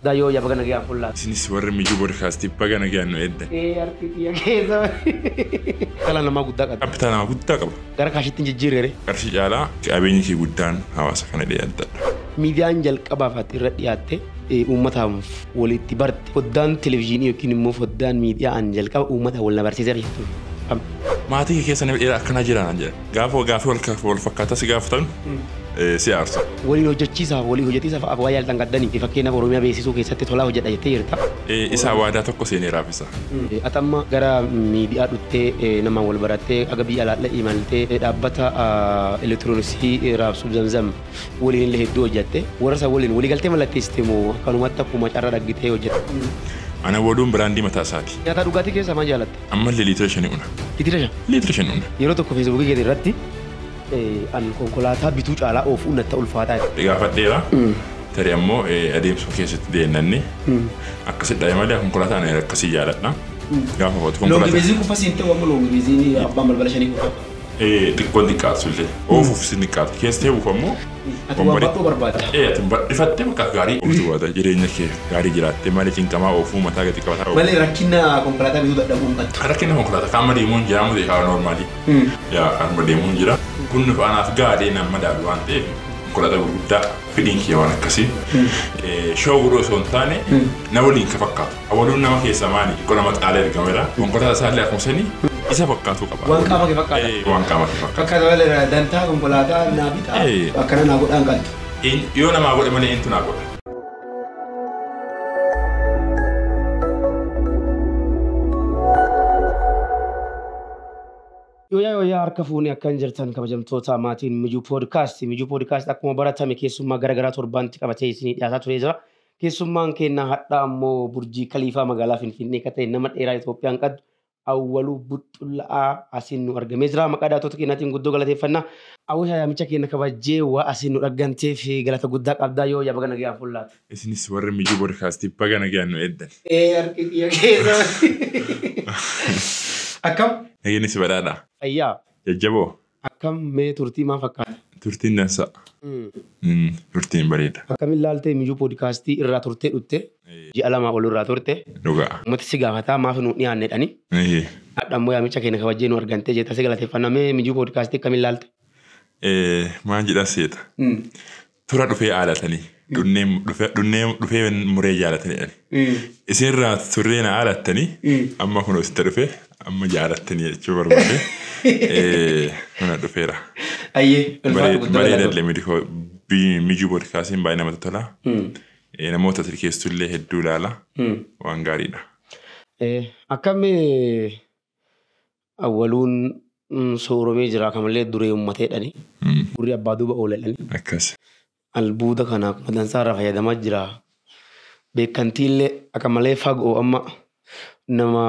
Daa yoo ya baga nagayaan fullaa. Isinis warri Mijuu Podcast baga nagayaan nu eddan. Ee artii tiyya keessa malee. Dhala namaa guddaa qabdi. Capital namaa guddaa qaba. Gara kaashitti hin jijjiirre ree? Qarshii caalaa qabeenyi kee guddaan hawaasa kana jedhee abdadha. Miidiyaan jalqabaaf ati irra dhiyaatte uummataaf wal itti barte foddaan televizyiinii yookiin immoo foddaan miidiyaa an jalqaba uummataan wal na barsiise irra jirtu. Maatii kee keessa nama dheeraa akkanaa jiraa naan jedhan. Gaafa gaafii wal fakkaataa si gaafatan si aarsa. Waliin hojjechiisaaf walii hojjetiisaaf abwaa yaaltan gaddanii fi fakkeenyaaf Oromiyaa beeksisuu keessatti tolaa hojjedha jettee jirta. Isaa waadaa tokko seenee raafisa. Ati amma gara miidiyaa dhuttee namaan wal barattee aga biyya alaallee imaltee dhaabbata elektirooniksii raabsuuf zamzam waliin illee hedduu hojjette warra san waliin waliigaltee mallatteessite moo akkanumatti akkuma carra dhaggitee hojjette. Ana waduun biraandii mataa isaati. Nyaataa dhugaatii keessaa maal jaalatta? Ammallee liitira shani una. Liitira shan. Liitira shan una. Yeroo tokko feesbuukii keetii irratti eh, an konkolaataa bituu caalaa oofuun natti ulfaataa jedhe. Gaafadheera. Tarii ammoo eh, adeemsuma keessatti deennanne. Akkasi dhabe malee konkolaataa ani akkasii jaaladha. Gaafa hootu Loongi konkolaataa. beeziin kufa siin ta'u amma loongi beeziin abbaan balbala shanii kufa. Eh, xiqqoon xiqqaattu illee oofuuf isin xiqqaatti keessa teebuuf ammoo Ati waan bakkoo barbaadda. Eh, ati badhifattee bakka gaarii ooftu baata jireenya kee gaarii jiraattee malee cinqamaa oofuu mataa gadi qabataa oofuu. Malee rakkina konkolaataa bituu dadhabuu hin qabdu. Rakkina konkolaataa kaanuma deemuun jira amma ta'e haala noormaalii. Hmm. Yaa kaanuma deemuun jira. Kun nuuf anaaf gaarii nan madaalu waan ta'eef konkolaataa gurguddaa fedhiin kiyya waan akkasii. Eh, Shoo godhuu osoo hin taane na waliin ka fakkaatu. Awwaluun nama keessaa maali? Xiqqoo nama caalee argameera. Konkolaataa isaallee akkuma sanii isa fakkaatuu qaba. Waan qaama kee fakkaata. Ee, waan qaama kee fakkaata. Fakkaata malee dantaa konkolaataa naa bitaa Ee. akkana naa godhaan qaltu. Een- Yoo namaa godhe malee eentu naa godha. Yooyaa yooyaa harka fuunee akkan jirtan kabajamtoota maatiin mijuu poodkaasti. Mijuu poodkaasti akkuma baratame keessummaa gara garaa torbaanitti qabatee isinii dhiyaataa turee jira. Keessummaan keenya hadhaa ammoo Burjii Kaliifaa magaalaa Finfinnee ka ta'e nama dheeraa Itoophiyaan qaddu Awwaluu Buxxulla'aa asiin nu argamee jira. Maqaa daawwattoota keenyaatiin guddoo galateeffanna. Awwisha yaamicha keenna kabajjee waa asiin nu dhagganteef galata guddaa qabda. Yooyyaa baga nagayaan fullaate. Isinis warri Mijuu Bodkaastii baga nagayaan nu eeddan. Ee harki kiyya keessa badee. Akkam? Nageenni si badhaadhaa? Fayyaa? Jajjaboo? Akkam mee turtii maa fakkaata? Turtiin dansaa. Mm. Turtiin bareeda. Akkamin laalte Miyu podcast irraa turtee dhutte ji'a lamaa ol irraa turte Dhugaa. ummati si gaafataa maaf nu dhiyaanne jedhani Ehe. hadha ammoo yaamicha keenya kabajjee nu argantee jetta si galateeffanna mee Miyu podcast akkamin laalte? Eh, Maan jedhaa seeta. Tura dhufee aalatanii. Dhunnee dhufe- dhunnee dhufee muree jaalatanii jedhani. Mm. Isinirraa turree na aalattanii Mm. amma kunoo sitti dhufe amma jaalattanii jechuu barbaade. Eh, Kana dhufeera. Ayyee ulfaadhu Baree- guddoo Bareeda galatoomi. illee midikoo bi- mijuu boodkaasiin baay'ee namatti tola. Mm. Eh, Namoota tirkeessu illee hedduu ilaala. Mm. Waan gaariidha. Eh, Akkami Awwaluun sooromee jira akka malee duree uummateedhani. Gurri abbaa duuba ooleedhani. Akkas. Albuuda kana akkuma dansaa irraa fayyadamaa jira. Beekkantiillee akka malee fagoo amma nama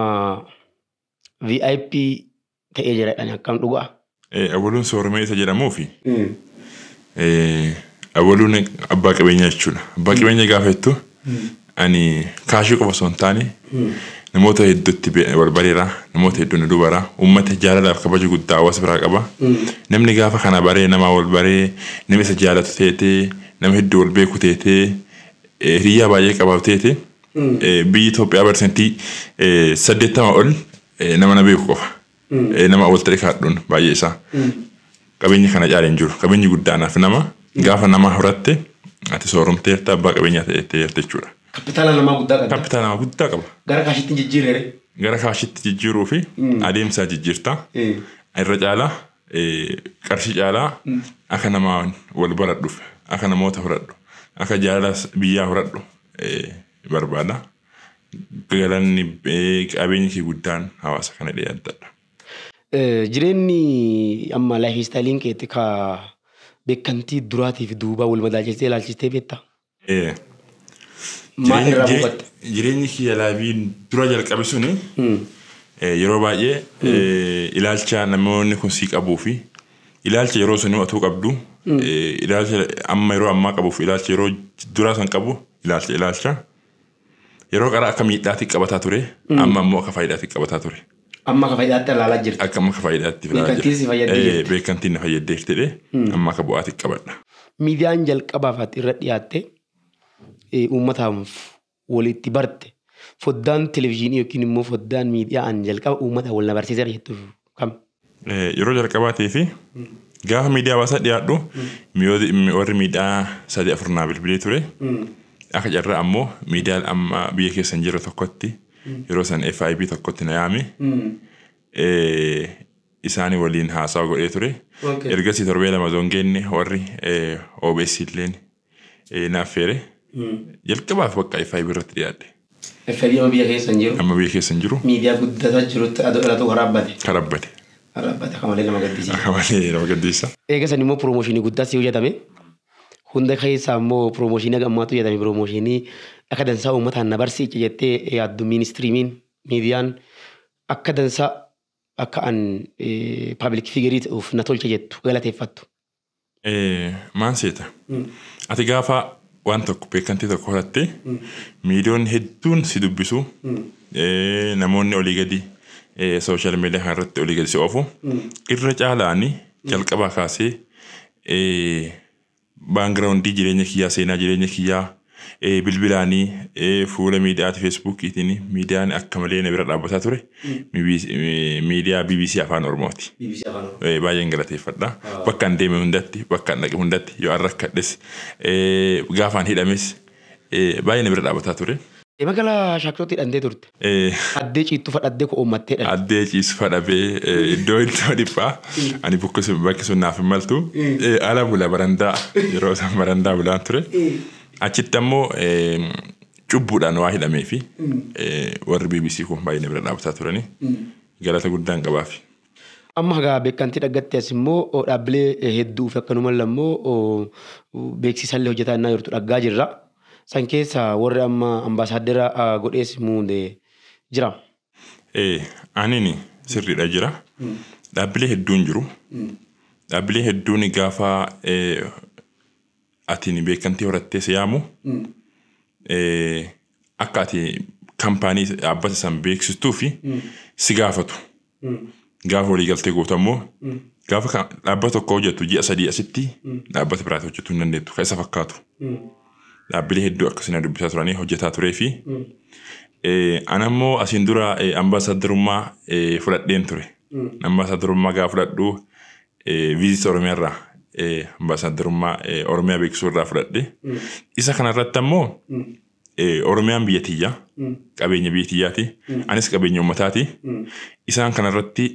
VIP ta'ee jiraadhani akkam dhugaa. Awwaluun sooromee isa jedhamuufi Abaluun abbaa qabeenyaa jechuudha. Abbaa qabeenyaa gaafa jettu ani kaashii qofa osoo hin taane namoota hedduutti barbareera namoota hedduun na dubara uummata jaalalaaf kabaja guddaa hawaasa biraa qaba. Namni gaafa kana baree namaa wal baree nama isa jaalatu teetee nama hedduu wal beeku teetee hiriyyaa baay'ee qabaatu teete biyyi Itoophiyaa barsantii saddeettama ol nama na beeku qofa. Nama awwalta dhika hadhuun baay'ee isaa. Qabeenya kana caale hin jiru. Qabeenyi guddaanaaf nama gaafa namaa horatte ati sooromteerta abbaa qabeenyaa ta'eetteerta jechuudha. Kappitaala namaa guddaa qabda. Kappitaala namaa guddaa qaba. Gara kaashitti jijjiirrere. Gara kaashitti jijjiiruu fi adeemsaa jijjiirta. Irra caalaa qarshii caalaa akka namaa wal baradhuuf akka namoota horadhu akka jaalalaas biyyaa horadhu barbaada. Galanni qabeenyi kee guddaan hawaasa kana dhiyaattadha. Jireenni amma life istaayiliin keetti ka beekantii duraatii fi duubaa wal madaalchistee ilaalchistee beektaa? Ee. Maal irraa buufatte? Jireenyi kiyya laayifii dura jalqabe suni yeroo baay'ee ilaalcha namoonni kun sii qabuu fi ilaalcha yeroo sanii otuu qabdu ilaalcha amma yeroo ammaa qabuu fi ilaalcha yeroo duraa san qabu ilaalcha ilaalcha. Yeroo qaraa akka miidhaatti qabataa ture, amma immoo akka faayidaatti qabataa ture. Amma akka faayidaatti ilaalaa jirta. Akka amma akka faayidaatti ilaalaa jira. Beekantiin si fayyaddee jirti. Beekantiin na fayyaddee jirtidhe amma akka bu'aatti qabadha. Miidiyaan jalqabaaf ati irra dhiyaatte uummataaf walitti barte foddaan televizyiinii yookiin immoo foddaan miidiyaa an jalqaba uummata wal na barsiiseera jettu kam? Yeroo jalqabaatiif gaafa miidiyaa hawaasaa dhiyaadhu warri miidhaa sadii afur naa bilbilee ture. Akka carraa ammoo miidiyaan amma biyya keessa hin jirre tokkotti yeroo san FIB tokkotti na yaame. Isaanii waliin haasawa godhee ture. Ergasii torbee lama zoon geenne warri OBS illeen Ee, na affeere. Jalqabaaf bakka FIB irratti dhiyaadhe. FIB amma biyya keessa hin jiru. Amma biyya keessa hin jiru. Miidiyaa guddataa jirutti adoo dhalatuu karaabbate. Karaabbate. Karaabbate akka malee nama gaddisiisa. Akka malee nama gaddisiisa. Eega sanii immoo promooshinii guddaatti hojjatame. Hunda keessaa immoo promooshinii haga ammaatti hojjatame promooshinii akka dansaa uummataan na barsiice jettee yaaddu miinistiriimiin miidiyaan akka dansaa akka an paabilik fiigeriitti of na tolche jettu galateeffattu. Maal seeta? Ati gaafa waan tokko beekantii tokko horatte miidiyoonni hedduun si dubbisu namoonni olii gadi sooshaal miidiyaa kana irratti olii gadi si oofu irra caalaani jalqabaa kaasee baangiraawundii jireenya kiyyaa seenaa jireenya kiyyaa Bilbilaani, fuula miidiyaati Feesbuukiitiini miidiyaan akka malee na bira dhaabbataa ture. Miidiyaa BBC Afaan Oromooti. Baay'een galateeffadha. Bakkaan deeme hundatti, bakkaan dhaqe hundatti yoo an rakkadhes, gaafaan hidhames baay'ee na bira dhaabbataa ture. Magaalaa Shaakisootti hidhamtee turte. Ee. Addee ciittu fa dhaddee ko'oommattee dhadde. Addee ciisu fa dhabee iddoo iddoo dhiphaa ani bukkisu bakki sun naaf hin maltu Eh, ala bula barandaa yeroo san barandaa bulaan ture achitti ammoo eh, cubbuudhaan waa hidhamee fi eh, warri BBC kun baay'ee na bira dhaabbataa turanii galata guddaan qabaafi. Amma hagaa bekkantii dhaggatte as immoo dhaabbilee hedduu fi akkanumalla immoo beeksisallee hojjetaa innaa jirtu dhaggaa jirra. San keessa warri amma ambaasaaddera godhees muude jira. Ee, anini sirriidha jira. Dhaabbilee hedduun jiru. Dhaabbilee hedduun gaafa atini beekkantii horattee si yaamu akka ati kampaanii dhaabbata san beeksistuu fi si gaafatu. Gaafa waliigaltee gootu ammoo gaafa ka- dhaabbata tokko hojjettu ji'a sadii asitti dhaabbata biraatti hojjetuu hin dandeettu kan isa fakkaatu. Dhaabbilee hedduu akkasii na dubbisaa turanii hojjetaa turee fi eh, ana immoo asiin dura eh, ambaasaaddarummaa eh, fudhadheen ture. Ambaasaaddarummaa gaafa fudhadhu Visit Oromiyaa irraa ambaasaaddarummaa Oromiyaa beeksisuu irraa fudhadhe. Isa kana irratti ammoo Oromiyaan biyya tiyya qabeenya biyya tiyyaati anis qabeenya uummataati. Isaan kana irratti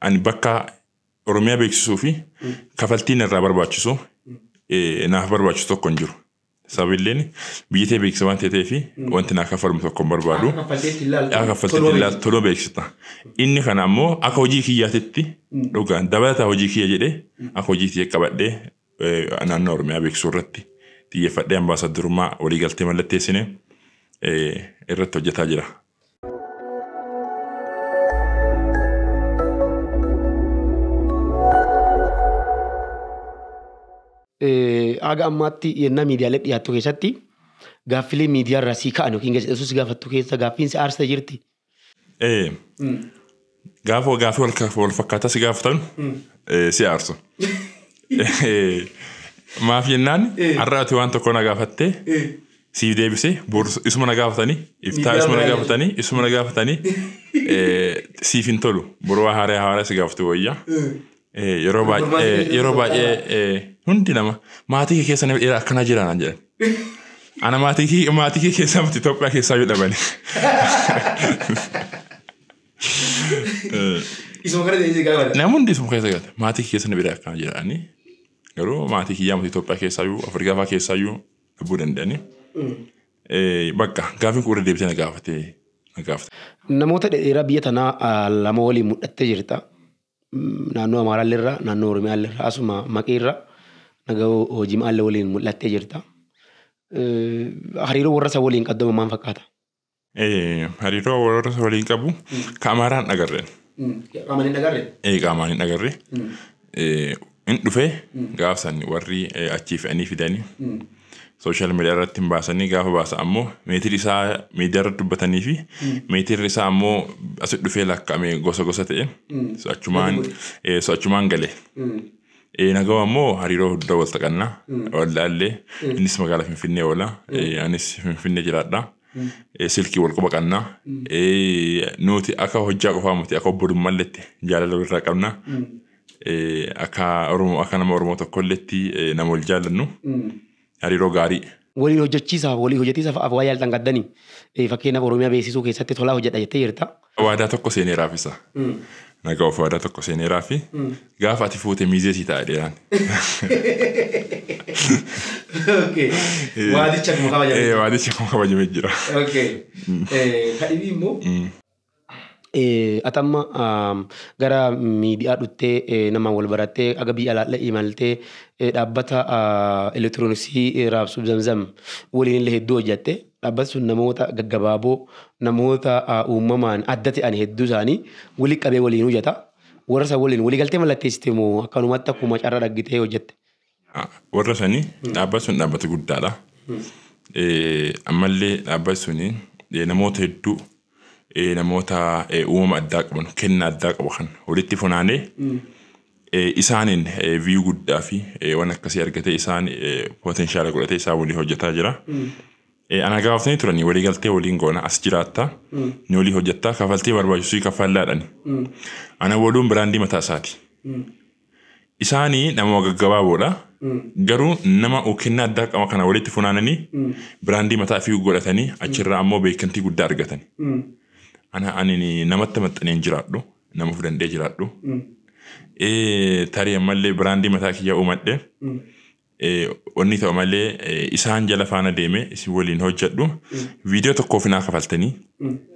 ani bakka Oromiyaa beeksisuu fi kafaltiin irraa barbaachisu naaf barbaachisu tokko hin jiru. Sababiilleen biyyi tee beeksisa waan ta'ee fi wanti naa kaffalamu tokko hin barbaadu. Akka kaffalteetti hin laaltu. Akka kaffalteetti hin laaltu toloo beeksifta. Inni kana ammoo akka hojii kiyyaatitti dhugaan dabalataa hojii kiyya jedhee akka hojii kiyya qabadhee naannoo Oromiyaa beeksisuu irratti xiyyeeffadhee ambaasaddarummaa waliigaltee mallatteessine irratti hojjetaa jira. Haga ammaatti yennaa miidiyaalee dhiyaattu keessatti gaaffilee miidiyaarraa sii ka'an yookiin gaazexeessuu si gaafattu keessa gaaffiin si aarsa jirti. Ee. Gaafa gaafii wal fakkaataa si gaafatan si aarsu. Maaf jennaan har'a ati waan tokko na gaafattee siif deebisee isuma na gaafatanii iftaa isuma na gaafatanii isuma na gaafatanii siif hin tolu boroo haaraa haaraa si gaafatu wayyaa Eh, Yeroo Gurgurmaa baay'ee keessa yeroo tokko baay'ee eh, hundi nama maatii kee keessa nama dhiira akkanaa jira naan jedhan. Ana maatii kee maatii kee keessaa miti Itoophiyaa keessaa yoo dhabani. Isuma kana ta'ee gaafata. Namni hundi isuma keessa gata. Maatii kee keessa nama dhiira akkanaa jiraani. Garuu maatii kiyyaa miti Itoophiyaa keessaa iyyuu Afrikaa fa'aa keessaa iyyuu dhabuu danda'ani. Eh, Bakka gaafiin kun irra deebitee na gaafatee na gaafate. Namoota dheeraa biyya tanaa ah, lama waliin mul'attee jirta. naannoo Amaaraallee irraa, naannoo Oromiyaallee irraa, asuma maqii irraa naga hojiimaallee waliin mul'attee jirta. Hariiroo warra isa waliin qaddama maal fakkaata? Hariiroo warra isa waliin qabu ka Amaaraan dhagarreen. Qaamaan hin dhagarre? Qaamaan hin dhagarre. Hin dhufe gaaf san warri achii fe'anii fidani. Social media irratti hin baasanii gaafa baasa ammoo meetirri isaa miidiyaa irratti dubbatanii fi meetirri isaa ammoo asi dhufee lakka'ame gosa gosa ta'e. So achumaan eh, so achumaan gale. Eh, Nagawa ammoo hariiroo guddaa wal taqanna. Wal laallee innis magaalaa Finfinnee oola. Eh, Anis Finfinnee jiraadha. Eh, Silkii wal quba qabna. Eh, Nuti akka hojjaa qofaa miti akka obbolummalletti jaalala walirraa qabna. Akka Oromoo akka nama Oromoo tokkolleetti nama wal jaallannu hariiroo gaarii. Waliin hojjechiisaaf walii hojjetiisaaf af waa yaaltan qaddanii? Fakkeenyaaf Oromiyaa beeksisuu keessatti tolaa hojjedha jettee jirta. Waadaa tokko seeneeraaf isa. Nagawoof waadaa tokko seeneeraafi gaafa ati fuute miizee sii ta'a jedheeraan. Okay. Waadichi akkuma kabajame. Ee waadichi akkuma kabajame jira. Okay. Kadhibii immoo. Ati amma gara miidiyaa dhuttee namaan wal barattee aga biyya alaallee imaltee dhaabbata elektirooniksii raabsu zamzam waliin illee hedduu hojjatte dhaabbati sun namoota gaggabaaboo namoota uumamaan adda ta'an hedduu isaanii walitti qabee waliin hojjata warra san waliin waliigaltee mallatteessite moo akkanumatti akkuma carraa dhaggitee hojjatte. Warra sanii dhaabbati sun dhaabbata guddaadha. Ammallee dhaabbati suni namoota hedduu namoota uumama addaa qaban kenna addaa qabu kan walitti funaanee isaaniin viyuu guddaa fi waan akkasii argatee isaan potenshaala godhatee isaan waliin hojjetaa jira. Ana gaafatanii turanii walii galtee waliin goona as jiraattaa ni walii hojjettaa kafaltii barbaachisuu kaffallaadhani. Ana waluun biraandii mataa isaati. Isaani namuma gaggabaaboodha. Garuu nama ukennaa addaa qaba kana walitti funaanani biraandii mataa ifii godhatani achirraa ammoo beekkamtii guddaa argatani. Ana anini namatti maxxanee hin jiraadhu. Nama of danda'ee jiraadhu. Ee tarii ammallee biraandii mataa kiyyaa uumadhe. Wonni ta'u malee isaan jala faana deeme isin waliin hojjadhu viidiyoo tokkoof naa kafaltanii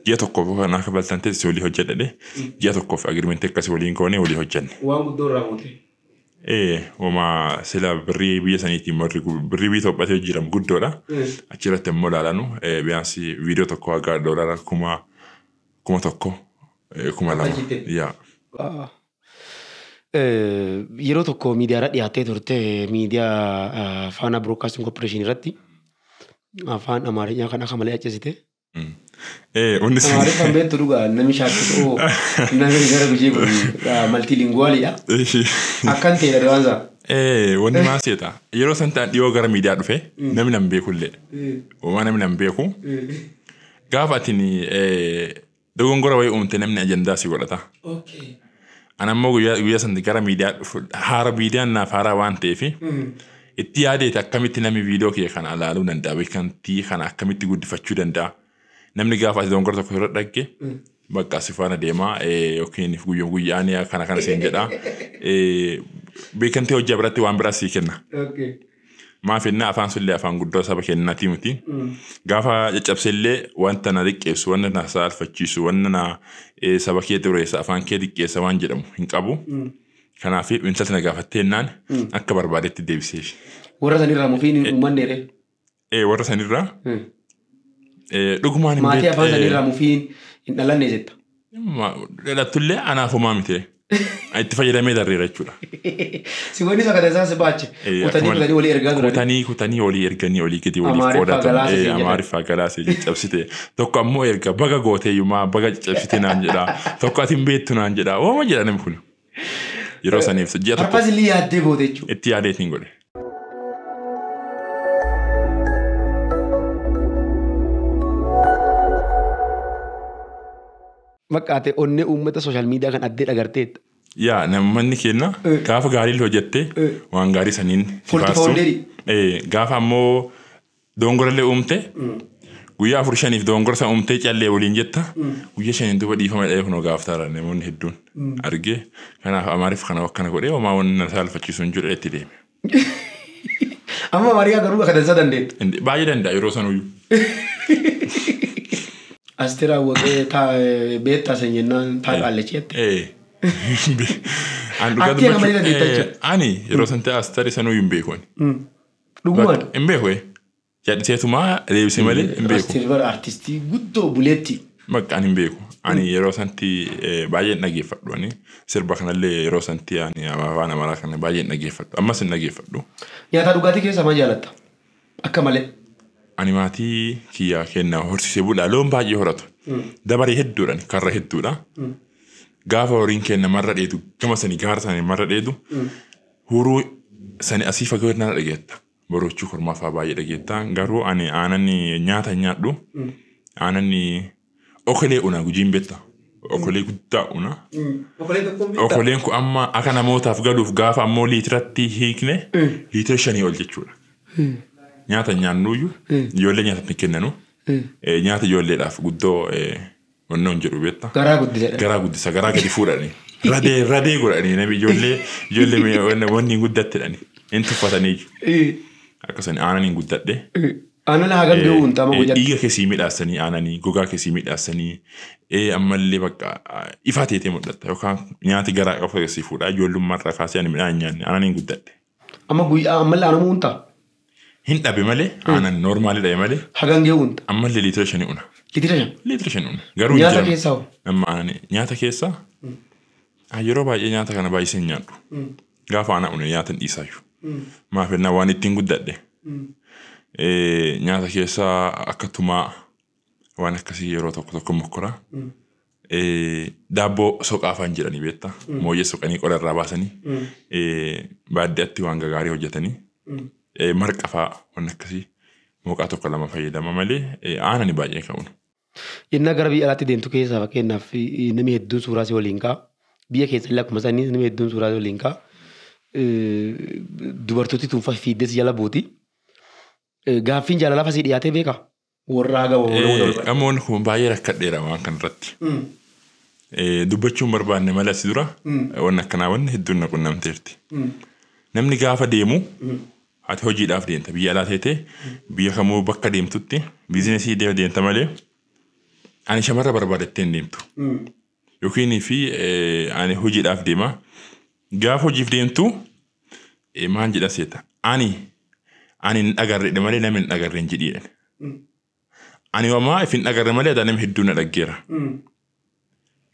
ji'a tokkoof naa kafaltan ta'e isin walii hojjadhadhe ji'a tokkoof agirimentii akkasii waliin goone walii hojjanne. Waan guddoo irraa muute. Ee wama sila birrii biyya saniitiin warri gu- birrii biyya Itoophiyaatti hojjiram guddoodha. Achi irratti immoo ilaalanu eh, biyaansi viidiyoo tokko haga doolaara kuma kuma tokko eh, kuma lama Akkasitti. yaa. Ah, Yeroo tokko miidiyaarra dhiyaattee turte miidiyaa Faanaa Broodkaastiin Koorporeeshin irratti afaan Amaarifaa kan akka malee accesite. Onni sun. Amaariffaan beektu dhugaa namni shaakkatu oo namni gara gujii kun maltiilinguwaaliidha. Akkan ta'e dha waan isaa. Wanni maal seeta yeroo san ta'an dhiyoo gara miidiyaa dhufe namni nan beekullee. Uumaa namni nan beeku. Gaafa atin Dogongora wayii uumte namni ajandaa si godhata. An ammoo guyyaa guyyaa santi gara miidiyaa dhufu haara miidiyaan naaf haaraa waan ta'eef itti yaadeeti akkamitti namni viidiyoo kiyya kana ilaaluu danda'a beekamtii kana akkamitti guddifachuu danda'a. Namni gaafa ati dogongora tokko irra dhagge bakka si faana deemaa eh, yookiin guyyuma guyyaan kana kana siin jedha. Eh, Beekamtii hojjaa biratti waan biraa sii kenna. Maaf jennaa afaan sullee afaan guddaa saba kennaatii miti. Gaafa caccabsellee wanta na xiqqeessu, wanta na saalfachiisu, wanta na eh, saba kee xureessa, afaan kee xiqqeessa waan jedhamu hin qabu. Kanaaf intalti na gaafattee jennaan akka barbaadetti deebiseef. Warra sanirraa mufiin hin uummanne ree. Eh, warra sanirraa eh, dhugumaan hin Maatii beekne- afaan eh, sanirraa mufiin hin dhalanne jetta. Dhalatullee anaaf homaa miti. Itti fayyadamee darreera jechuudha. Si wanni isa kana isaan si baache. Eh, Kutanii akkuma- kutanii olii ergaa turani. Kutanii kutanii olii erganii olii gadi olii Amaariffaa qoodatan. galaasa Eh, siin jedhan. Amaariffaa galaasa caccabsite. Tokko ammoo erga baga gooteeyyumaa baga caccabsite naan jedha. Tokko ati hin beektu naan jedha. Ooma jedha namni kun. Yeroo saniif ji'a tokko Har'a silii yaaddee booda jechuudha. itti yaadeetiin godhe. Fakkaate onnee uummata sooshaal miidiyaa kan addee dhagarteetta. Yaa namni keenya Eh. gaafa gaarii hojjette Eh. waan gaarii saniin si Forti faarsu. founderii. Eh, Gaafa ammoo Doongorallee uumte guyyaa afur shaniif doongora sana uumtee callee waliin jetta guyyaa shaniin duuba dhiifama jedhee kunoo gaafataara namoonni hedduun argee kanaaf amaariif kana akkana godhee homaa wanni na saalfachiisu hin jiru itti deeme. Amma Maariyaa garuu akka dansaa dandeenya. Indi- Baay'ee danda'a yeroo sanuyyuu. Asteer Awwaqee taa beektaa san jennaan taa qaallachi jette. Eh. An dhugaa Atti nama dubbachuu- ni dandeetta eh, jechuudha. Ani yeroo san ta'e astari sanuyyuu hin beeku ani. Dhugumaan. Hin beeku ee. Yaaditeetumaa deebisee malee hin beeku. Rastil bara artistii guddoo buleetti. Bakka ani hin beeku. Ani yeroo sanatti eh, baay'een dhageeffadhu. Ani sirba kanallee yeroo sanatti ani afaan amaaraa kana baay'een dhageeffadhu. Ammas hin dhageeffadhu. Nyaataa dhugaatii keessaa maal jaalatta? Akka malee. Ani maatii kiyyaa kennaa horsiisee bulaa loon baay'ee horatu. Dabaree hedduudhaan karra hedduudha. Gaafa horiin kenna marra dheedu gama sanii gaara sanii marra dheedu Huuruu sani asii fagoo irraa dhageetta. Boroochuu kormaa fa'aa baay'ee dhageetta. Garuu ani aanan nyaata hin nyaadhu. Aanan okolee una gujiin beekta. Okolee guddaa una. Okolee tokko hin beektaa? Okoleen kun amma akka namootaaf galuuf gaafa ammoo liitiratti hiikne liitira shanii ol jechuudha. Nyaata hin nyaannuyyuu ijoollee nyaatatti hin kennanu. Eh, Nyaata ijoolleedhaaf guddoo eh, Wanni on jedhu beetta. Garaa guddisa. Garaa guddisa garaa gadi fuudhani. Radee radee godhani nami ijoollee ijoollee wanni hin guddattedhani. Hin tuffatanii. Akkasani aanan hin guddadhe. Aanan hagam gahuu hin xaama guyyatti. Dhiiga kee sii midhaassanii aananii gogaa kee sii midhaassanii ammallee bakka ifaa teetee mul'atta yookaan nyaati garaa qabu sii fuudhaa ijoollummaa irraa kaasee ani midhaan hin nyaanne aanan hin guddadhe. Amma guyyaa ammallee aanamuu hunta. Hin dhabe malee aanan noormaalii dhabe malee Hagangee hunta. ammallee liitira shanii una. Litira shan. Liitira shan una. Garuu hin Nyaata jedhamu. keessaa hoo? Amma aanan nyaata keessaa ah, yeroo baay'ee nyaata kana baay'isee hin nyaadhu. Gaafa aanaa une nyaata hin dhiisaayyuu. Maaf jennaan waan ittiin guddadhe. Eh, Nyaata keessaa akka tumaa waan akkasii yeroo tokko tokko mokkora. Eh, Daabboo soqaa afaan jedhanii beektaa? Mooyyee soqanii qora irraa baasanii eh, baadiyyaatti waan gagaarii hojjetanii eh, marqa fa'aa waan akkasii mooqaa tokko lama fayyadama malee eh, aanani baay'ee ka'uun. Yennaa gara biyya alaatti deemtu keessaa fakkeenyaaf eh, namni hedduun suuraa si waliin ka'a. Biyya keessa illee akkuma sanii namni hedduun suuraa si waliin ka'a. Eh, Dubartooti tun fa- fiigdee si jala buuti. Eh, Gaaffiin jaalalaa fa si dhiyaatee beekaa? Worraa gama wal wal barbaadde. Amoon kun baay'ee rakkadheera waan kana irratti. Dubbachuun barbaanne malee asi dura wanni akkanaa wanni hedduun na qunnamteerti. Namni gaafa deemu ati hojiidhaaf deemta biyya alaa teetee biyya kamuu bakka deemtutti biizinesii deemta malee ani shamarra barbaadattee hin deemtu. Yookiin fi ani hojiidhaaf deema. Gaafa hojiif deemtu Eh, Maan jedha seeta. Ani ani hin dhagarredhe malee nama hin dhagarre hin jedhi jedhan. Ani wamaa if hin dhagarre malee adaa nama hedduu na dhaggeera.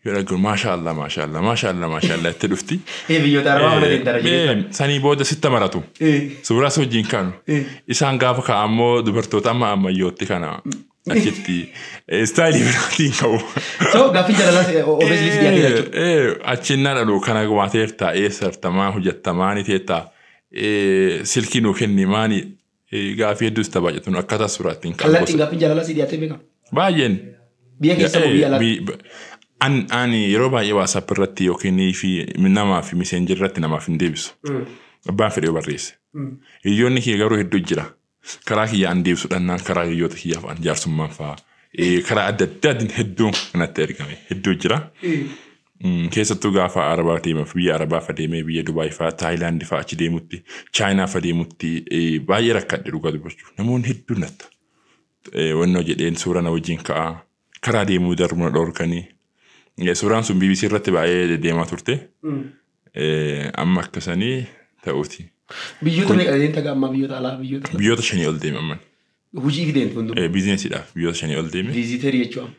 Yoo dhaggeera maashaa Allah maashaa Allah maashaa Allah maashaa Allah itti dhufti. Ee biyyoota arabaa mana deemtara Eh, jedhee. eh, Sanii booda sitta maratu. Ee. Suuraa si wajjin kaanu. Eh. Isaan gaafa ka'a ammoo dubartoota amma ammayyootti kana achitti istaayilii biraatiin ka'u. So gaaffiin jaalalaas obviously si dhiyaatee jechuudha. Achiin na dhalu kana waateerta eessartamaa hojjettamaa ni teetta silkii nuu kenni maani gaaffii hedduus tabaajatuun akkaataa suuraa ittiin ka'u. Kallattiin gaaffiin jaalala si dhiyaatee beekama. Baay'een. Biyya keessa moo biyya alaatti? An ani yeroo baay'ee waasaap irratti yookiin fi namaa fi miseenjii irratti namaaf hin deebisu. Abbaan fedhee barreesse. Hiriyoonni kee garuu hedduu jira. Karaa kiyya an deebisu dhannaan karaa hiriyoota kiyyaaf an jaarsummaan faa eh, karaa adda addaatiin hedduun kanatti ergame hedduu jira. Mm, Keessattuu gaafa Arabaa deemaaf biyya Arabaa fa deemee biyya Dubaay faa Taayilaandi faa achi deemutti Chaayinaa fa deemutti eh, baay'ee rakkadhe dhugaa dubbachuu namoonni hedduun natta. Eh, Wannoo jedheen suuraa na wajjin ka'a karaa deemuu darbu na dhorkanii. Eh, Suuraan sun BBC irratti baay'ee deemaa turte. Eh, Amma akka sanii ta'uuti. Biyyoota Kun- meeqa deemta ammaa biyyoota alaa biyyoota Biyyoota shanii ol deeme amman. hojii fi deemta hunduma. Eh, Biizinesiidhaaf biyyoota shanii ol deeme. Viiziteerii jechuun.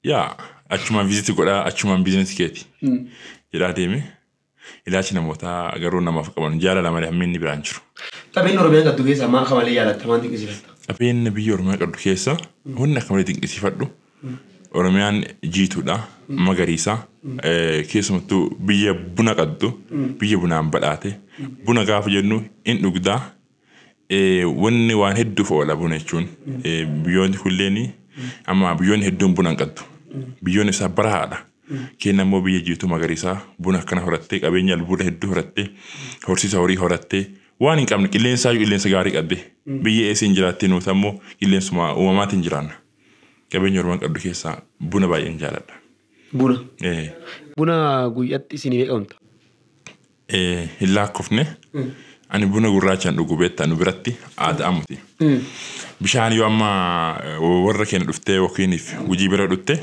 Yaa achumaan viiziti godhaa achumaan biizinesi keeti. Mm. Jedhaa deeme. Ilaalchi namootaa garuu namaaf qaban jaalala malee hammi inni biraan hin jiru. Qabeen Oromiyaan qabdu keessaa maa akka malee jaalatta maa dinqisiifatta. Qabeenya biyya Oromiyaa qabdu keessaa wanni akka malee dinqisiifadhu Oromiyaan jiituudha, magariisa. Keessumattuu biyya buna qabdu, biyya bunaan badhaate. Buna gaafa jennu in dhugda. Wanni waan hedduuf oola buna jechuun. Biyyoonni kunneen amma biyyoonni hedduun buna hin qabdu. Biyyoonni isaa barahaadha. Keenya immoo biyya jiituu magariisaa buna akkana horattee qabeenya albuuda hedduu horattee horsiisa horii horattee waan hin qabne qilleensaa qilleensa gaarii qabde biyya eessiin jiraattii nuuta immoo qilleensuma uumamaatiin jiraanna. Qabeenya Oromoon qabdu keessaa buna baay'een jaaladha. Buna. Ee, Buna guyyatti isin meeqa dhugdu? ee, Hin laakkofne ani buna gurraachaan dhugu beektaa nu biratti aadaa muti. Bishaan yoo amma eh, warra keenya dhuftee yookiin gujii bira dhuftee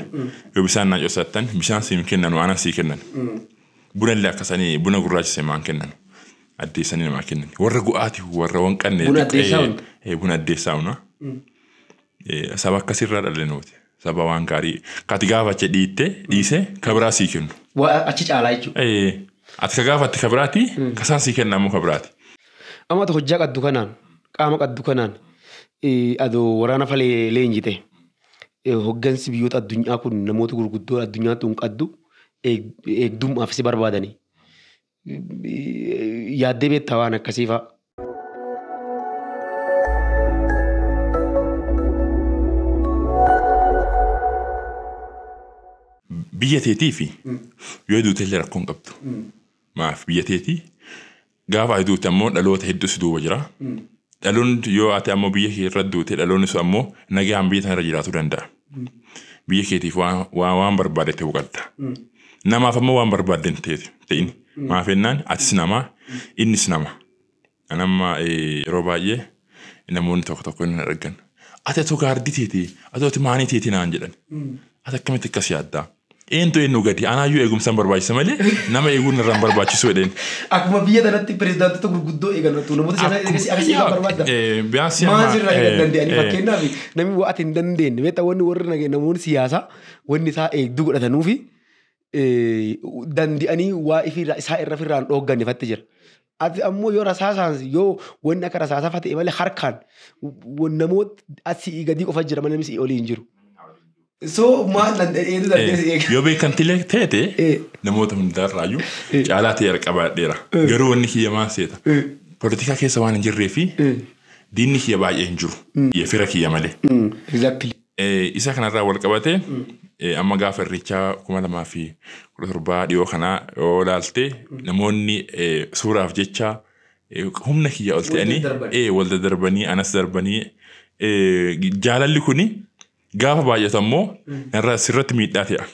yoo bishaan naa cosattan bishaan siin kennanu aanan sii kennan. Buna illee akkasanii buna gurraacha seemaan kennan. Addeessanii namaa kennan. Warra gu'aati warra waan qannee. Buna addeessaa hunda. Ee, buna addeessaa hunda. Saba akkasii irraa dhalle nuti. Saba waan gaarii ka ati gaafatte dhiitte dhiise ka biraa sii kennu. Waa achi caalaa jechuudha. Ee, Ati ka gaafatte ka biraati ka isaan sii kenna ammoo ka biraati. Amma ati hojjaa qaddu kanaan qaama qaddu kanaan eh, adoo waraana falee leenjite eh, hoggansi biyyoota addunyaa kun namoota gurguddoo addunyaa tun qaddu eeg- eegdummaaf si barbaadanii Yaaddee beektaa waan akkasii fa'a? Biyya teetiifi yoo duutellee rakkoo hin qabdu. Maaf biyya teetii gaafa ati duute ammoo dhaloota hedduu si duuba jira. Dhaloonni yoo ati ammoo biyya kee irra duute dhaloonni sun ammoo nagaan biyya sana irra jiraachuu danda'a. Biyya keetiif waan, waan, waan barbaade ta'uu qabda. Namaaf ammoo waan barbaadde hin ta'e- ta'in. Maaf jennaan atis namaa, innis nama. An amma eh, yeroo baay'ee namoonni tokko tokko inni argan. Ati atuu gaardii teeti, ati ati maanii teeti naan jedhan. Ati akkamitti akkas yaaddaa? Eentu eennu gadi? Anaayyuu eegumsan barbaachisa malee nama eeguun narra hin barbaachisu jedheen. Akkuma biyya tanatti pirezidaantota gurguddoo eegan tu namoota sana Akkuma- eegas akkas eegan barbaadda. Eh, biyaasii Maal amma- sirraa eegan eh, danda'anii eh. fakkeenyaaf namni waa ati hin dandeenye beektaa wanni warri nage- namoonni siyaasaa wanni isaa eegduu godhatanuufi eh, dandi'anii waa ifirraa isaa irra firraan dhoogganne fatti jira. Ati ammoo yoo rasaasaan yoo wanni akka rasaasaa fate malee harkaan namoota asii gadii qofa jira malee namni olii hin jiru. So maal danda'eetu dandeessa eega. Yoo beekamtilee teete Eh. namoota hundaarraayyuu Eh. caalaa ta'e qabaadheera. Eh. Garuu wanni kiyya maal seeta? Eh. Politikaa keessa waan hin jirree fi Eh. diinni kiyya baay'ee hin jiru. Fira kiyya malee. Exactly. Isa kanarraa wal qabatee amma gaafa irreechaa kuma lamaa fi kudha torbaa dhiyoo kanaa yoo ilaalte namoonni suuraaf jecha humna kiyya ol ta'anii wal daddarbanii anas darbanii jaalalli kuni gaafa baay'atu ammoo irra sirratti miidhaa ta'a.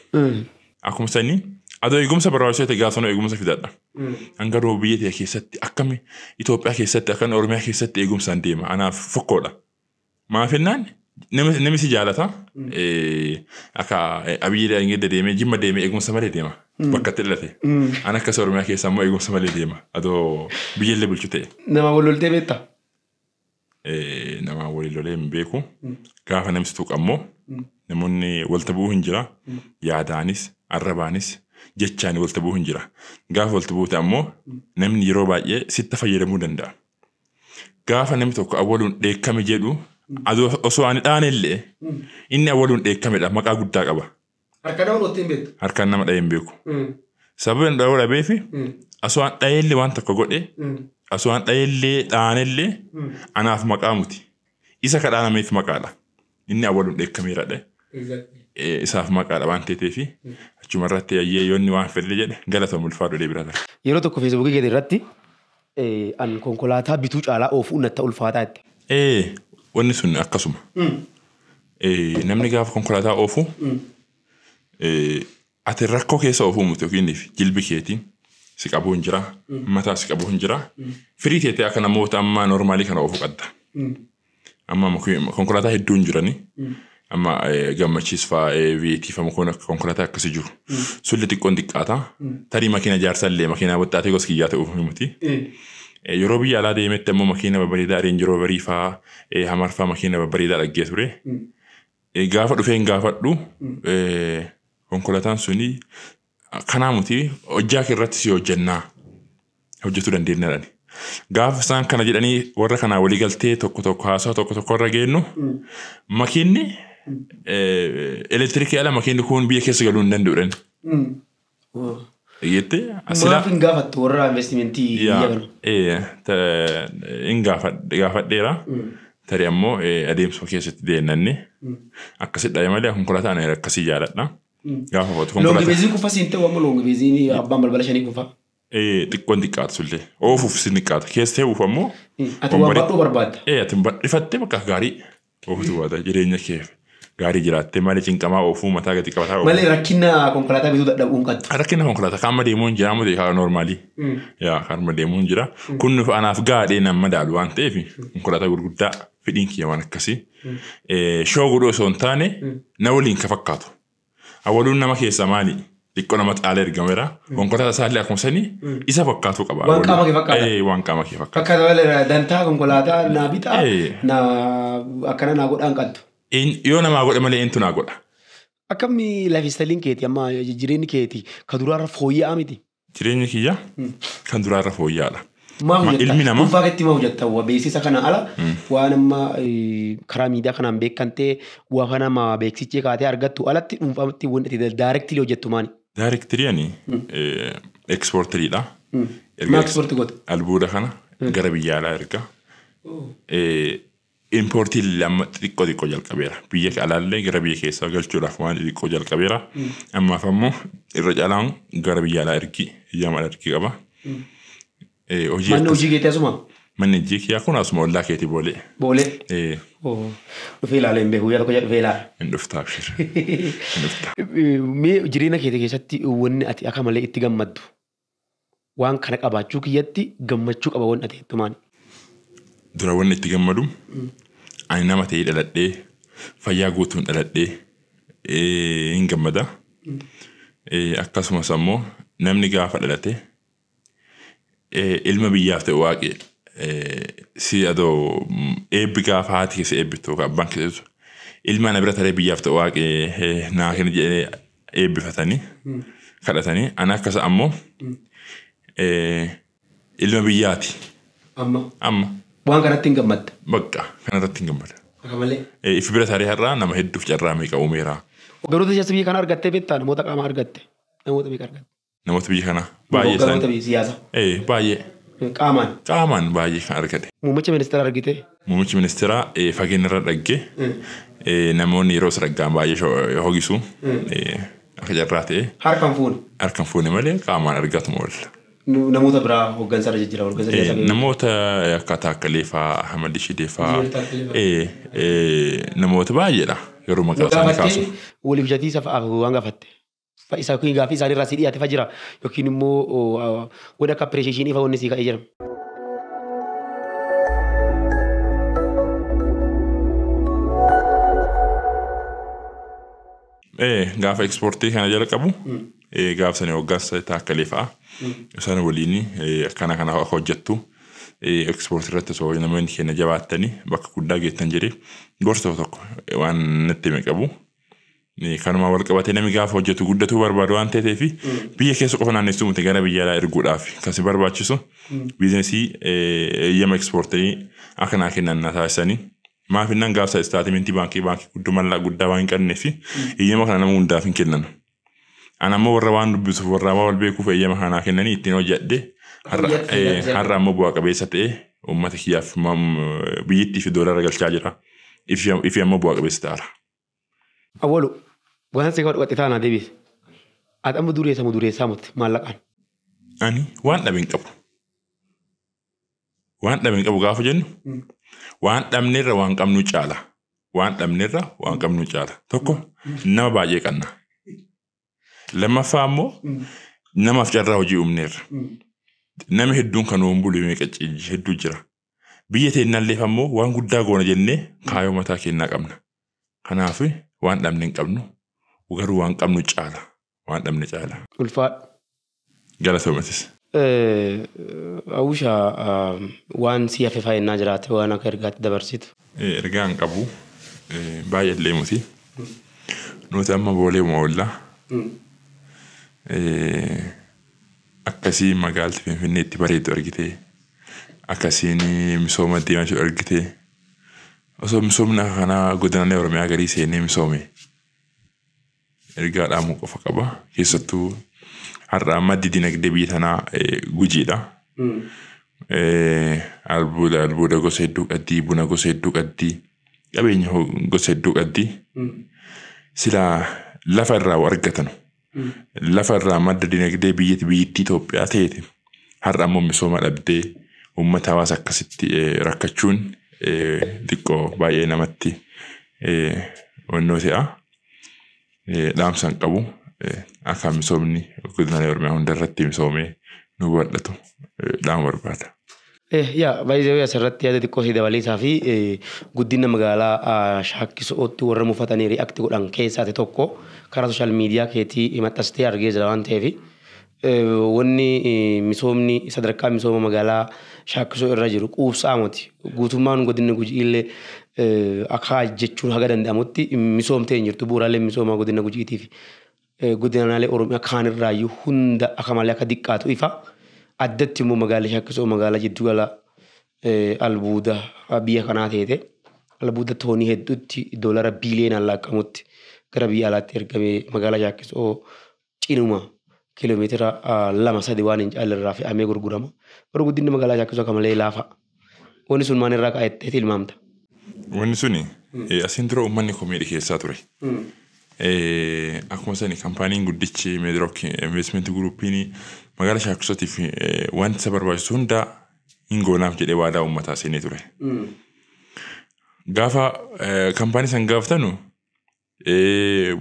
Akkuma sanii adoo eegumsa barbaachisoo ta'e gaafa sanuu eegumsa fidadha. Hanga rooba biyya ta'e keessatti akkami Itoophiyaa keessatti akkan Oromiyaa keessatti eegumsaan deema anaaf fokkoodha. Maaf jennaan nama nami si jaalata eh, akka eh, abiyyi daangedda deemee jimma deemee eegumsa malee deema bakka itti dhalate an akkas oromiyaa keessa ammoo eegumsa malee deema adoo biyyallee bulchu ta'e Nama wal loltee beektaa? eh, namaan waliin lolee hin beeku gaafa namsi tuqa ammoo namoonni walta bu'uu hin jira yaadaanis arrabaanis jechaan walta bu'uu hin jira gaafa walta buute ammoo namni yeroo baay'ee sitta fayyadamuu danda'a Gaafa namni tokko awwaluun dheekkame jedhu osoo ani dhaane illee inni awwaluun dheekkamedha maqaa guddaa qaba. Harka dha'uun ottiin beektu. Harkaan nama dha'ee hin beeku. Sababa inni dha'uu dhabeef osoo an dha'ee illee waan tokko godhe osoo an dha'ee illee dhaane illee anaaf maqaa muti. Isa ka dhaanameef maqaadha. Inni awwaluun dheekkameera dhe. Isaaf maqaadha waan teeteefi achuma irratti ayyee yoo inni waan fedhe jedhe galatoom ulfaadhu deebira tar. Yeroo tokko feesbuukii keeti irratti an konkolaataa bituu caalaa oofuun natta ulfaataa jette. Ee wanni sun akkasuma. Namni gaafa konkolaataa oofu ati rakkoo keessa oofuu miti yookiin jilbi keetiin si qabuu hin jira mataa si qabuu hin jira firii teetee akka namoota ammaa noormaalii kana oofuu qabda. Amma konkolaataa hedduu hin jirani. Amma gammachiis fa'aa viyeetii fa'aa kun konkolaataa akkasii jiru. Sulli xiqqoon xiqqaata. Tarii makiina jaarsaa illee makiinaa waxxaatee gosa kiyyaa ta'uuf miti. Yeroo biyya alaa deemetti ammoo makiina babbareedaa reenji rooverii fa'aa hamar fa'aa makiina babbareedaa dhaggee ture. Gaafa dhufeen gaafadhu konkolaataan suni Kanaa muti hojjaa kee irratti si hojjannaa hojjetuu dandeenya jedhani. Gaafa isaan kana jedhanii warra kanaa walii galtee tokko tokko haasawa tokko tokko irra geennu makiinni elektirikii ala makiinni kun biyya keessa galuu hin danda'u jedhani. Dhageette Maaf hin gaafattu warra investimentii biyya kana? hin gaafadheera. Tarii ammoo adeemsuma keessatti deemnanni akkasidha malee konkolaataan akkasii jaaladha. Gaafa hubatu Loongi konkolaataa beeziin kufa siin ta'u amma loongi beeziin abbaan balbala shanii kufa. ee, xiqqoon xiqqaatu sullee oofuuf si xiqqaata keessa ta'uuf ammoo Ati waan badhoo barbaadda. ee ati badhifattee bakka gaarii ooftu baata jireenya keef gaarii jiraattee malee cinqamaa oofuu mataa gadi qabataa oofuu. Malee rakkina konkolaataa bituu dadhabuun qabdu. Rakkina konkolaataa kaamma deemuun jira amma ta'e noormaalii. Yaa kaamma deemuun jira kun nuuf anaaf gaadhee nan madaalu waan ta'eef konkolaataa gurguddaa fedhiin kiyya waan akkasii shoo godhuu osoo hin taane na waliin ka fakkaatu. Awwaluun nama keessaa maali? Xiqqoo nama xaala ergameera. Konkolaataa isaallee akkuma sanii isa fakkaatuu qaba. Waan qaama kee fakkaata. Eh, Waan qaama kee fakkaata. Fakkaata malee dantaa konkolaataa naa bitaa Eh. naa akkana naa godhaan qaltu. In- Yoo namaa godhe malee intu naa godha. Akkamni lifestyle keeti amma jireenyi keeti ka duraarra fooyya'aa miti. Jireenyi kiyya kan duraa irra fooyya'aadha. Maaf Ma- hojjetta? ilmi namaa- Dhuunfaa keetti maaf hojjetta? Wa beeksisa kana ala waan amma eh, karaa miidiyaa kanaan beekamtee waa kana nama beeksichee kaatee argattu alatti dhuunfaatti wanti itti daayirektilii hojjettu maali? Daarektirii ani ekspoortiriidha. Maaf ispoortii goota? Albuuda kana gara biyya alaa erga. Eh, Importiin lamma xixiqqoo xiqqoo jalqabeera. Biyya alaallee gara biyya keessaa galchuudhaaf waan xixiqqoo jalqabeera. Ammaaf ammoo irra caalaan gara biyya alaa ergii eyyama ala ergii qaba. Eh, Hojii Manni akkas- hojii keetii asuma? manni hojii kiyyaa kun asuma ollaa keetii boolee. Boolee? Eh, Oo. Dhufee ilaala hin beeku. Guyyaa tokko jedha dhufee ilaala. Hin dhuftaa abshir. Hin dhuftaa. Mee jireenya keetii keessatti wanni ati akka malee itti gammaddu waan kana qabaachuu kiyyatti gammachuu qaba wanna ta'etti maani. Dura wanna itti gammadu ani nama ta'ee dhaladhee fayyaa guutuun dhaladhee hin gammada. Akkasumas ammoo namni gaafa dhalate ilma biyyaaf ta'e waaqi si adoo eebbi gaafa haati keessa eebbittu yookaan abbaan keessa ilma ana bira taree biyyaaf ta'e waaqi naa kenna jedhee eebbifatanii kadhatanii ana akka isa ammoo eh, ilma biyyaati Amma amma waan kanatti hin gammadda. bakka kanarratti hin gammada. Akka malee. Eh, If bira taaree har'aa nama hedduuf carraa meeqa uumeera. Ogeroota jajjabee kan argattee beektaa namoota qaamaa argatte namoota meeqa argatte. Namoota biyya kanaa baay'ee Hogganoota isaanii. biyya siyaasa. Ee baay'ee Qaamaan. qaamaan baay'ee kan argate. Muummicha ministeera argite. Muummichi ministeeraa ee, fageenya irra dhagge ee, namoonni yeroo saraggaan baay'ee sho- hogisu ee, akka carraa ta'e Harkaan fuune. harkaan fuune malee qaamaan argatuma oolla. Nu- Namoota biraa hooggansa irra jijjiirama. Hooggansa Ee, siyaasa. Namoota akka Taakkalee fa'aa, Ahmad Shidee fa'aa Jiir Taakkalee fa'aa. ee, ee, namoota baay'eedha yeroo maqaa isaanii kaasuuf. Gaafattee waliif jatiisa fa'aaf waan gaafatte. fa isa yookiin gaaffii isaanii irraa si dhiyaate fa jira yookiin immoo wanni akka appireesheeshinii fa wanni si ka'ee jira. Ee, gaafa ekspoortii kana jalqabu ee, gaafa sana waggaas taakkalee fa'a isaan waliin ee, akkana kana akka hojjettu ee, ekspoortii irratti osoo namoonni keenya jabaattanii bakka guddaa geettan jedhee gorsa tokko waan natti hime qabu. Kanumaan walqabatee namni gaafa hojjetu guddatuu barbaadu waan ta'eef biyya keessa qofa naannessuu miti gara biyya alaa erguudhaaf kan si barbaachisu biizinesii eeyyama ekspoortii akka naa kennan na taasisanii maaf innaan gaafsa istaatimentii baankii baankii guddoo mallaa guddaa waan hin qabneef eeyyama kana nama hundaaf hin kennan. Ana ammoo warra waan dubbisuuf warra waan wal beekuuf eeyyama kana naa kennanii ittiin hojjedhe har'a ammoo bu'aa qabeessa ta'e uummata kiyyaaf biyyittii fi doolara galchaa jira. Ifi ammoo bu'aa qabeessa ta'ara. Awwalu waan si kadhu qaxxitaa naa debiisi ati amma dureesa mo dureessaa mot maallaqaan. Ani waan dhabe hin qabu. Waan dhabe hin qabu gaafa jennu waan dhabnerra waan qabnu caala. Waan dhabnerra waan qabnu caala. Tokko nama baay'ee qabna. Lammaffaa immoo namaaf carraa hojii uumneerra. Nama hedduun kan hoon bulu meeqa hedduu jira. Biyya teennalleef ammoo waan guddaa goona jennee kaayoo mataa keennaa qabna. Kanaaf waan dhabne hin qabnu. Garuu waan qabnu caala. Waan dhabne caala. Ulfaadhu. Galatoomi atis. Awusha waan si hafe faa ennaa jiraate waan akka ergaatti dabarsitu. Ergaa hin qabu. Baay'eellee muti. Nuti amma booleema oolla. Akkasii magaalti finfinnee itti bareeddu argitee akkasiin misooma itti deemaa jiru argitee osoo misoomni akka kanaa godinaalee oromiyaa garii seenee misoome ergaa dhaamuu qofa qaba keessattuu har'a maddi dinagdee biyya tanaa eh, gujiidha Eh, albuuda albuuda gosa hedduu qabdi buna gosa hedduu qabdi qabeenya ho- gosa hedduu qabdi silaa lafa irraa waa argatanu lafa irraa madda dinagdee biyyatti biyyittii Itoophiyaa teete har'a ammoo misooma dhabdee uummata hawaasa akkasitti rakkachuun xiqqoo baay'ee namatti onnoo se'a. Dhaamsan qabu akka misoomni guddinaalee Oromiyaa hundarratti misoomee nu bal'atu dhaama barbaada. Eh yaa by the way asirratti yaada xiqqoo si dabaleesaa fi guddina magaalaa shaakkisootti warra mufatanii react godhan keessaa ta'e tokko karaa social media keetii maxxastee argee jira waan ta'eef wanni misoomni sadarkaa misooma magaalaa shaakkisoo irra jiru quubsaa miti guutummaan godinni gujiillee akaa jechuun haga danda'amutti misoomtee hin jirtu bu'uuraaleen misooma godina gujiitiif godinaalee Oromiyaa kaanirraayyuu hunda akka malee akka diqqaatu ifa. Addatti immoo magaalli Shakkisoo magaalaa jiddu gala albuuda biyya kanaa teete albuuda toonii hedduutti doolara biiliyoonaan laakkamutti gara biyya alaatti ergamee magaalaa Shakkisoo cinuma kiiloomeetira lama sadi waan hin caallerraa fe'amee gurgurama. Garuu guddinni magaalaa Shakkisoo akka malee laafa. Wanni sun maal irraa ka'e jettee tilmaamta? Wanni suni eh, asiin dura uummanni komii dhiheessaa ture. Eh, Akkuma sani kampaaniin guddichi Meedrook Investment Guruupiin magaalaa Shaakkisootiif eh, wanti isa barbaachisu hunda hin goonaaf jedhee waadaa uummataa seenee ture. Gaafa eh, kampaanii san gaafatanu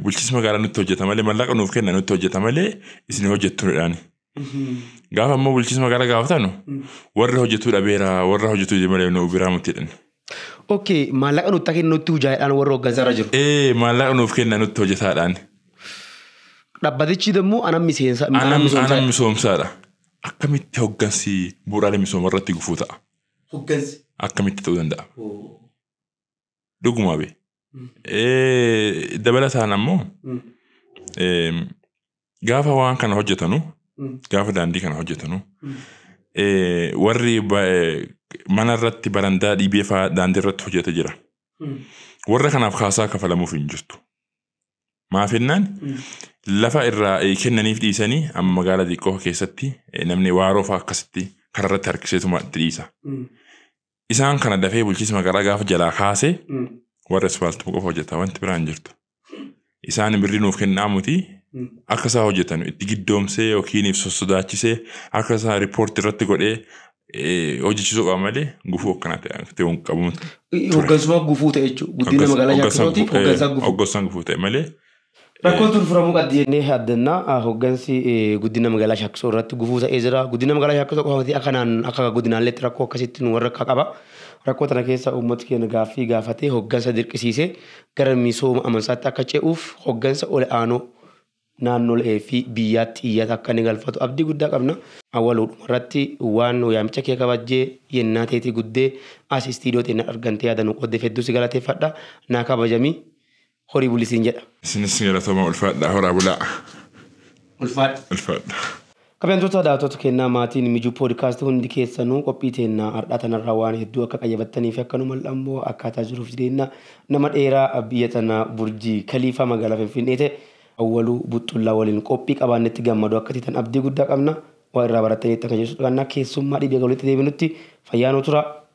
bulchiinsa magaalaa nutti hojjeta malee mallaqa nuuf kenna nutti hojjeta malee isin hojjettu jedhaani. Gaafa ammoo bulchiinsa magaalaa gaafatanu warra hojjetuu dhabeera warra hojjetuu malee nu biraa miti jedhani. Ok maallaqa nutti kenna nutti hojjaadhaan warra hooggansa irra jiru. Ee maallaqa nuuf kenna nutti hojjetaadhaan. Dhabbatichi immoo ana miseensa ana Anam anam misoomsa. misoomsaadha. Akkamitti hoggansi bu'uuraalee misooma irratti gufuu ta'a? Hoggansi. Akkamitti ta'uu danda'a? Dhuguma be. Eh, Dabalataan ammoo eh, gaafa waan kana hojjetanu gaafa daandii kana hojjetanu eh, warri ba- eh, mana irratti barandaa dhiibee fa'aa daandii irratti hojjeta jira. Warra kanaaf kaasaa kafalamuuf hin jirtu. Maaf jennaan lafa irraa eh, kennaniif dhiisanii amma magaalaa xiqqoo keessatti eh, namni waaroo fa'aa akkasitti karaa irratti harkiseetuma itti dhiisa. Isaan kana dafee bulchiinsi magaalaa gaafa jalaa kaase warra ispaaltii qofa hojjeta wanti biraa hin jirtu. Isaan birrii nuuf kennaa muti akka isaa hojjetan itti giddoomsee yookiin sossodaachisee akka isaa riippoortii irratti godhee eh, hojjechiisuu qaba malee gufuu akkanaa ta'e akka ta'e hin qabu. Hoggansummaa gufuu ta'e jechuudha. Guddina magaalaa Shaakkisootiif hoggansaa gufuu. Hoggansaan gufuu ta'e malee Rakkoon tun furamuu qabdi jennee abdanna. Hoggansi guddina magaalaa Shaakkisoo irratti gufuu ta'ee jira. Guddina magaalaa Shaakkisoo qofa miti akka naan akka godinaalleetti rakkoo akkasitti nu warrakka qaba. Rakkoo tana keessa uummati keenya gaaffii gaafatee hoggansa dirqisiisee gara misooma amansaatti akka ce'uuf hoggansa ol aanoo naannolee fi biyyaatti iyyata akka inni galfatu abdii guddaa qabna. Awwaluudhuma irratti waan waamicha kee kabajjee yennaa teetii guddee as istiidiyoo teenna argantee yaada nu qooddeef hedduu si galateeffadha. Naa kabajami. horii buli siin jedha. Isinis galatooma ulfaadhaa horaa bulaa. Ulfaadha. Ulfaadha. Kabajamtoota daawwattoota keennaa maatiin Mijuu Podcast hundi keessanuu qophii teennaa har'aa tanarraa waan hedduu akka qayyabattanii fi akka nu mal'ammoo akkaataa jiruuf jireenna nama dheeraa biyya tanaa Burjii Kaliifaa magaalaa Finfinnee ta'e Awwaluu Buxxullaa waliin qophii qabaannetti gammadoo akka teetan abdii guddaa qabna waa irraa barattaniittan kan jedhu sodaanna keessummaa dhibiya walitti deebinutti fayyaa nuu turaa